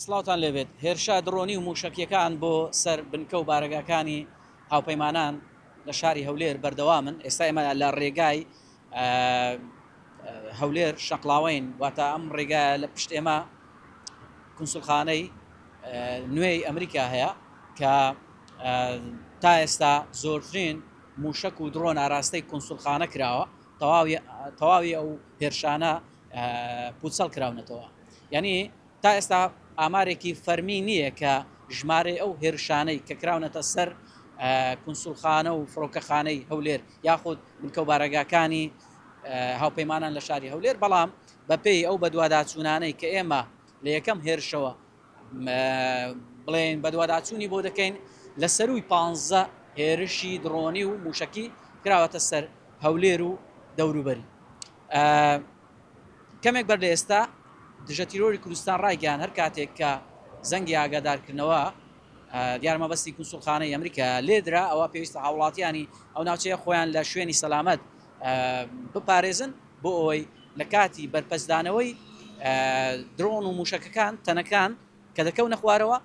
سڵاوتان لێبێت هێرشە دڕۆنی و مووشەکیەکان بۆ سەر بنکە و بارەگاکانی هاوپەیمانان لە شاری هەولێر بەردەوامن ئێستا ئێمە لە ڕێگای هەولێر شەقڵاوەین واتە ئەم ڕێگا لە پشت ئێمە کنسولخانەی نوێی ئەمریکا هەیە کە تا ئێستا زۆرترین موشک و درۆن ئاراستەی کنسولخانە کراوە تەواوی تەواوی ئەو هێرشانە پوچەڵ کراونەتەوە یعنی تا ئێستا ئامارێکی فەرمی نییە کە ژمارەی ئەو هێرشانەی کە کراونەتە سەر کونسوڵخانە و فڕۆکەخانەی هەولێر یاخود بنکە و بارەگاکانی هاوپەیمانان لە شاری هەولێر بەڵام بەپێی ئەو بەدواداچوونانەی کە ئێمە لە یەکەم هێرشەوە بڵێن بەدواداچوونی بۆ دەکەین لە سەروی پ هێرشی دڕۆنی و موشکی کراوەتە سەر هەولێر و دەوروبەری کەمێک بەر لە ئێستا دژەتیرۆری کوردستان ڕایگەیاند، هەر کاتێک کە زەنگی ئاگادارکردنەوە دیار مەبەستی کونسوڵخانەی ئەمریکایە لێدرا، ئەوا پێویستە هاووڵاتییانی ئەو ناوچەیە خۆیان لە شوێنی سەلامەت بپارێزن بۆ ئەوەی لە کاتی بەرپەستدانەوەی درۆن و مووشەکەکان تەنەکان کە دەکەونە خوارەوە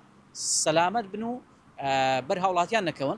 سەلامەت بن و بەر هاووڵاتییان نەکەون.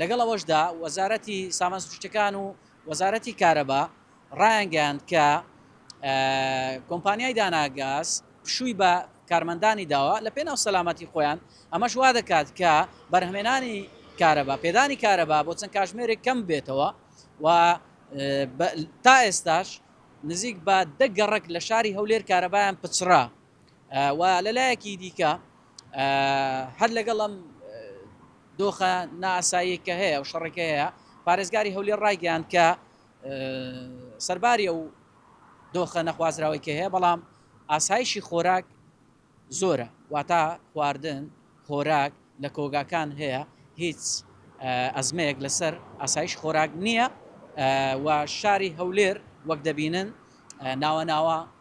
لەگەڵ ئەوەشدا وەزارەتی سامان سروشتیەکان و وەزارەتی کارەبا ڕایانگەیاند کە کۆمپانیای داناگاز پشووی بە کارمەندانی داوە لە پێناو سەلامەتی خۆیان ئەمەش وا دەکات کە بەرهمێنانی کارەبا پێدانی کارەبا بۆ چەند کاژمێرێک کەم بێتەوە و تا ئێستاش نزیک بە دە گەڕک لە شاری هەولێر کارەبایان پچڕا و لە لایەکی دیکە هەر لەگەڵ ئەم دۆخە نائاساییەی کە هەیە و شەڕێک هەیە، پارێزگاری هەولێر ڕایگەیاند کە سەرباری ئەو دۆخە نەخوازراوەی کە هەیە، بەڵام ئاسایشی خۆراک زۆرە، واتە خواردن، خۆراک لە کۆگاکان هەیە، هیچ ئەزمەیەک لەسەر ئاسایشی خۆراک نییە و شاری هەولێر وەک دەبینن ناوە ناوە